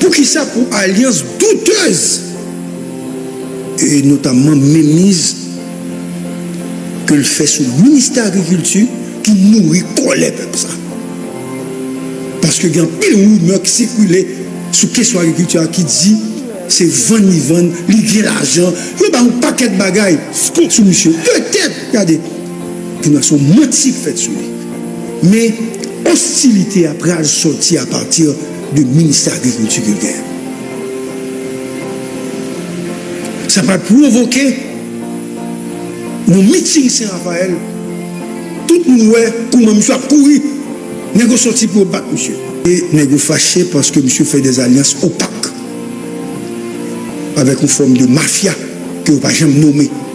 Poukisa pou alyans doutez e notamman menmiz ke l fè sou ministè agrikilti ki nouri kòlè pèp sa? Paske gen anpil rimè ki sikile sou kesyon agrikilti a ki di se vann li vann, li gen lajan, yo bay yon pakèt bagay sou misye. Petèt, gade! Yon nasyon manti k fèt sou li. Men ostilite a pral sòti apati de ministè agrikilti ke l genyen. Sa pral pwovoke yon meeting Sen Raphael, tout moun wè kouman misye ap kouri, nèg yo sòti pou yo bat misye. E nèg yo fache paske misye fè des alyans opak avèk yon fòm de mafya ke yo pa janm nome.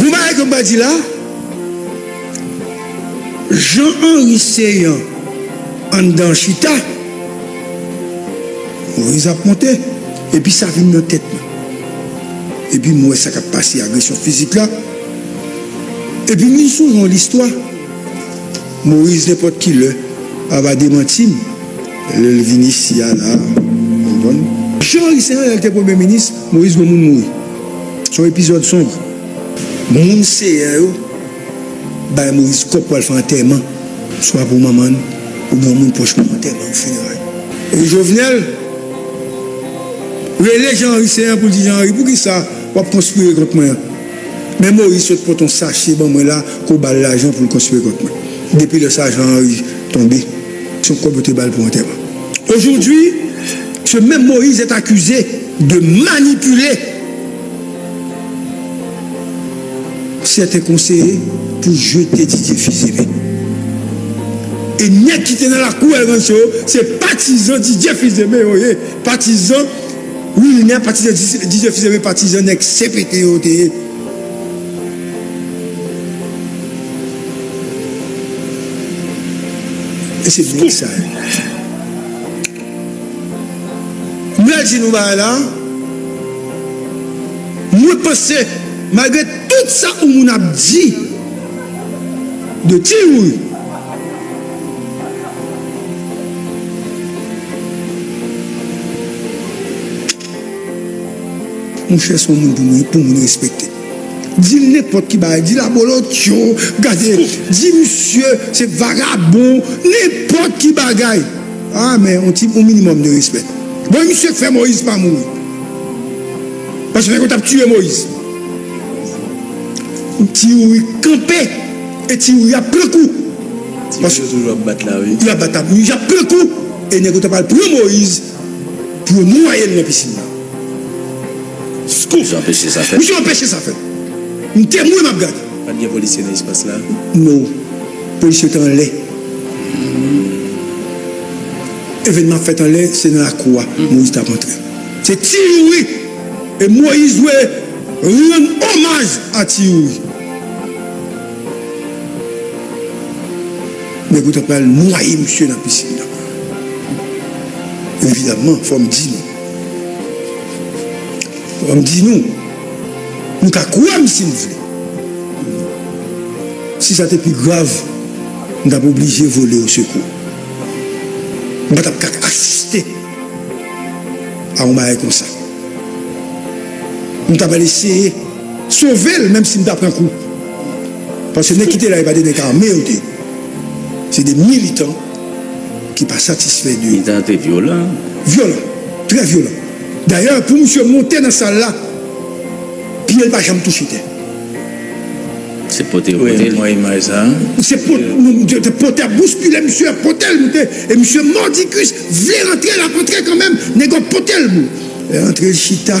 Yon bagay ke m pral di la, Jean Henry Céant anndan an chita, Moise ap monte, epi sa vin nan tèt mwen. Epi m wè sa k ap pase, agresyon fizik la. Epi m vin sonje yon listwa, Moise nenpòt ki lè a va demanti m, Lel vini siya la ou konprann. Jean Marie se yon lèl te premye minis Moïse gon moun mouri son epizòd sonb. Moun seyè yo bay moise kòb pou al fè antèman swa pou manman n ou byen yon moun pwòch pou antèman ou fineray. E Jovenel rele Jean Henry Céant pou l di Jean Henry poukisa wap konspire kont mwen an men Moïse sot pot yon sache ban mwen la kou bal lajan pou l konspire kont mwen depi lè sa Jean Henry tonbe. son kob yo te bal pou antèman. Aujourd'hui ce même Moïse est accusé de manipuler certains conseillers pour jeter Didier Fils-Aimé. Et nèg ki te nan lakou El Rancho yo se patizan Didier Fils-Aimé yo ye, patizan Wilner, patizan Didier Fils-Aimé, patizan nèg CPT yo te ye. E se byen sa ye. M pral di nou bagay la, mwen panse malgre tout sa ou moun ap di de Ti Youri, Mouche son moun pou moun pou moun respekte dil nenpot ki bagay dil abolotcho gade di misye se vagabon nenpot ki bagay aa men yon ti yon minimum de respè bon e misye k fè moise pa mouri paske nèg yo tap tiye moise ti youri kanpe e ti youri ap pran kou paske yap bat la wi yap bat la yap pran kou e nèg yo ta pral pran moise. pou yo nwaye l nan pisin nan. Scoop, Misye anpeche sa fèt. Misye anpeche sa fèt. M te mwen m ap gade. Pa t gen polisye nan espas la? No. Polisye yo te anlè. Evènman ap fèt anlè, se nan lakou a Moïse t ap antre. Se Ti Youri e Moïse dwe rann omaj a Ti Youri. Nèg yo ta pral nwaye misye nan piscine nan. Evidemment fòm di nou. Fòm di nou. Nou ka kwèm si nou vle. Si sa te pi grav, m tap oblije vole o sekou. M pa tap ka asiste a yon bagay konsa. M ta pral eseye sovel menm si m ta pran kou. Paske nèg ki te la yo pa te nèg ame yo te se de militan ki pa satisfè de. Militan yo te vyolan. Vyolan, trè vyolan. Dayè pou misye monte nan sal la pye l pa janm touche tè. Se pote yo pote l. Mwen imaj sa. Se pote ap bouskile misye ap pote l moute e misye mòdikis vle rantre l ap antre kanmenm nèg yo ap pote l pou l antre l chita.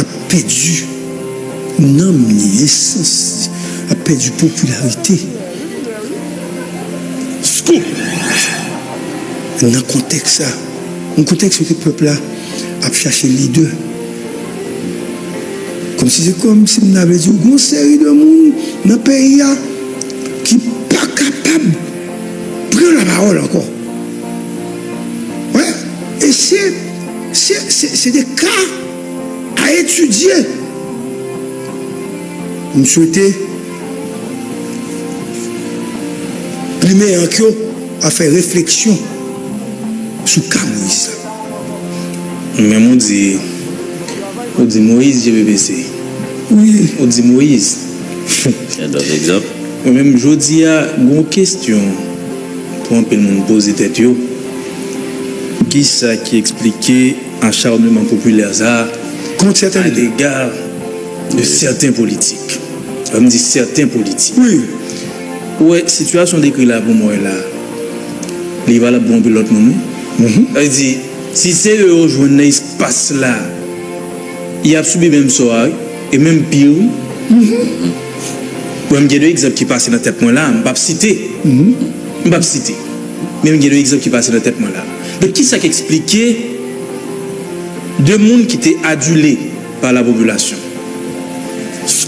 ap pèdi nanm li, esans li, ap pèdi popilarite. Scoop! Nan kontèks sa, yon kontèks kote pèp la ap chache lidè, kòmsi se kòmsi m ta vle di w gon seri de moun nan peyi a ki pa kapab pran lapawòl ankò. Wè, e se, se, se, se de ka a etidye. M swete plimen ank yo a fè refleksyon sou ka Moyiz sa. Ou menm ou di, ou di Moyiz je ve bese. Wi. Ou di Moyiz. Gen dòt egzanp? Ou menm jodi a gen yon kesyon. Pou anpil moun poze tèt yo, ki sa ki eksplike acharnement populaire sa a a lega de sèten politik? Lè m di sèten politik, ou wè sitiyasyon w dekri la pou mwen la, li valab pou anpil lòt moun wi. Sa vle di, si se yo yo jwenn nan espas la, y ap sibi menm sò a wi, e menm pi wi. Wè, m gen yon egzanp ki pase nan tèt mwen la a, m pap site. M pap site. Men m gen yon egzanp ki pase nan tèt mwen la a. Donk, ki sa k esplike de moun ki te adile pa lapopilasyon,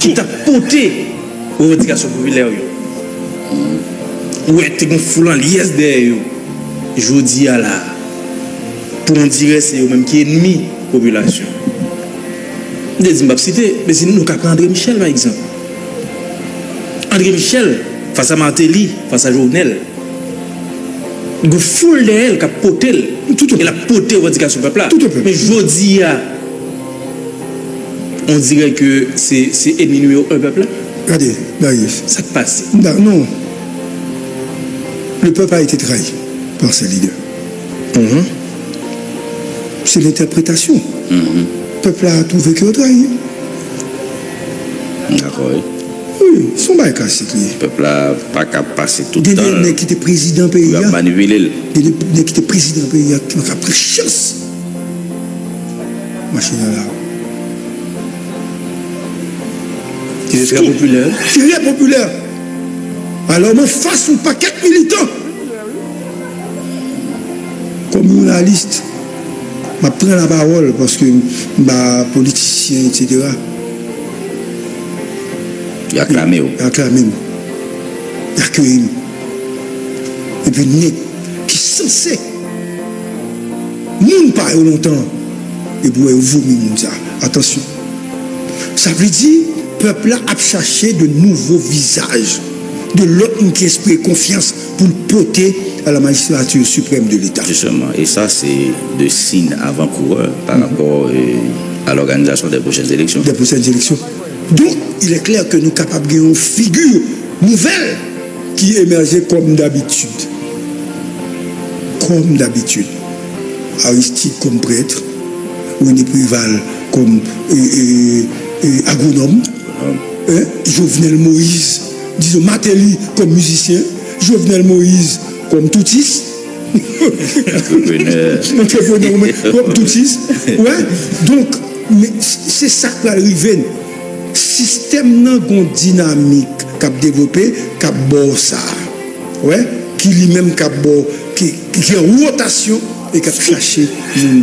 ki t ap pote revandikasyon popilè yo, wè, te gen yon foul anlyèz dèyè yo, jodi a la a, pou on dirè se yo menm ki enmi popilasyon. M te di m pap site, men si nou ka pran André Michel pa egzanp. André Michel fas a Martelly, fas a Jovenel, gen foul dèyè l k ap pote l e l ap pote revandikasyon pèp la. Men jodi a, on dirè ke se enmi nimewo 1 pèp la. Gade, Marius. Sa k pase? Non. Le pèp a ete trayi par se lidè. Se lentèpretasyon pèp la twouve ke yo trayi. M dakò wi. Wi, se yon bagay klasik li ye. Pèp la pa ka pase tout tan l. Gen de nèg ki te prezidan peyi a. Yo ap manipile l. Gen de nèg ki te prezidan peyi a ki ap pran chans mache nan lari. Ki te trè popilè. Trè popilè. Alò m anfas yon pakèt militan. Kòm jounalist, m ap pran lapawòl paske m pa politisyen etsetera. Yo aklame w. Yo aklame m. Yo akeyi m. Epi nèg ki sanse moun pa yo lontan an, epi w wè yo vomi moun sa a. Atansyon! Sa vle di pèp la ap chache de nouvo vizaj, de lòt moun ki enspire konfyans. pou l pote a la magistrature supreme de l'Etat. Justement, e sa se 2 sign avan kourè pa rapò a l'organisation des prochaines élections. Des prochaines élections. Donk, il est clair que nou kapab gen yon figure nouvelle ki emerger comme d'habitude. Comme d'habitude. Aristide comme prêtre, René Préval comme agronome, Jovenel Moïse. Dison Martelly kòm mizisyen, Jovenel Moïse kòm toutis, antreprenè ou kòm toutis, ou wè? Donk, men se sa k pral rive n. Sistèm nan gen yon dinamik k ap devlope, k ap ba w sa, ou wè, ki li menm k ap ba w, ki gen wotasyon e k ap chache moun.